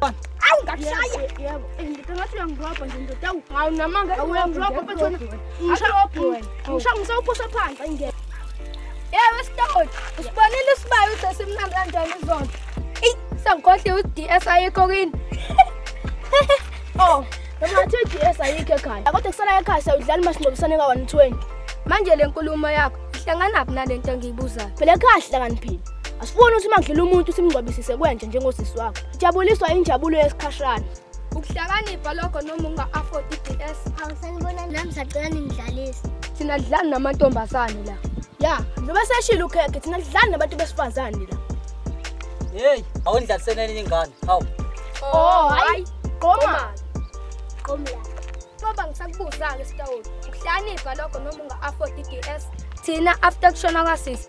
Au ngakushaya. Yebo. Ngikangathi uyangidrobha nje ndoda awu. Hawu namanga uyangidrobha mfethu. Ngisha ngisawuphosa phansi. Yebo sitawuthi usibonile isibayo ukuthi simnandi kanjani izona. Ey sangikhohle uDS ayikho kini. Oh, noma athi uDS ayikho ekhaya. Kodwa kusala ekhaya sawudlala masindobisane ka 120. Manje lenkulumo yakho ihlanganaphi nalento engiyibuzayo? Phela ekhaya hlakaniphile. Asifuni ukuthi makudlula umuntu simngcwabisise kwenje njengosisi wakho. Jabuliswa injabulo yesikhashana. Ukuhlakanipha lokho noma unga-afford i-DS. Angisanibona nami sacela ningidlalise. Thina dlani namantombazane la. Ya, noma seshilo ukhekhe thina dlani nabantu besifazane la. Hey, awundlaliseneni ingane. Hawu. Oh, hayi. Qoma. Qoma la. Baba ngisakubuza-ke sitawula. Ukuhlakanipha lokho noma unga-afford i-DS. Thina after kushona kwasisi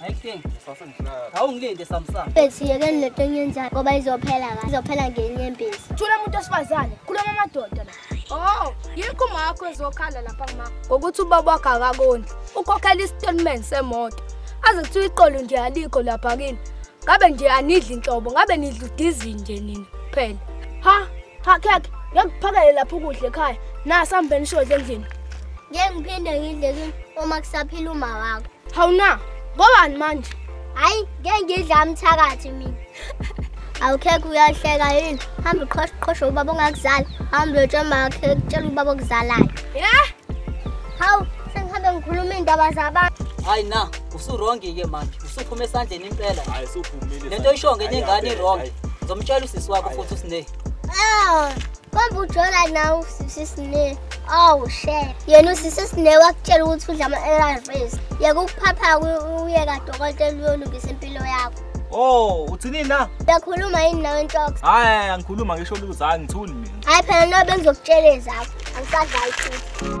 Hayi King. Sase ngihlala. Awungilinde Samsung. Bethi yeke lento enyenzayo ngoba izophela kahle. Izophela ngenye impisi. Thula umuntu osifazane. Khuluma amadoda la. Oh, yikho uma wakho ezokhala lapha kuma. Ngokuthi ubaba wakhe akakondli. Ukhokhela istatement semoto. Aze kuthiwa iqolo nje alikho lapha kini. Ngabe nje anidli inhlobo, ngabe nidla udizi nje nina kuphela. Ha, ha khekhe, ngiyakuphakele lapha ukudla ekhaya. Nasa mbeni shodle endlini. Ngeke ngiphinde ngidle kini uma kusaphila uma wakho. Hawu na, ngobani manje? Hayi, ngeke ngidla umthakathi mina. Awukhekho uyahleka yini? Hamba uqhoshe uqhoshe ubaba ongakuzala. Hamba uyotshela umakhe kutshela ubaba okuzalayo. Yeah. Hawu, sengihambe ngikhuluma indaba zabantu. Hayi na, usuwrong ke manje. Usuphuma esandleni impela. Hayi, usuphumile. Lento isho ngenye ingane iwrong. Ngizomtshela usisi wakho futhi uSneh. Ah, Kambe ujola nawe usisi sine. Awu she. Yena usisi sine wakutshela ukuthi udla ama ARVs. Yeka ukuphapha uye kadokotela uyolungisa impilo yakho. Oh, uthini na? Uyakhuluma yini nawe Ntox? Hayi, angikhuluma ngisho ukuthi hayi ngithuli mina. Hayi phela no bengizokutshela ezakho. Angisadlali futhi.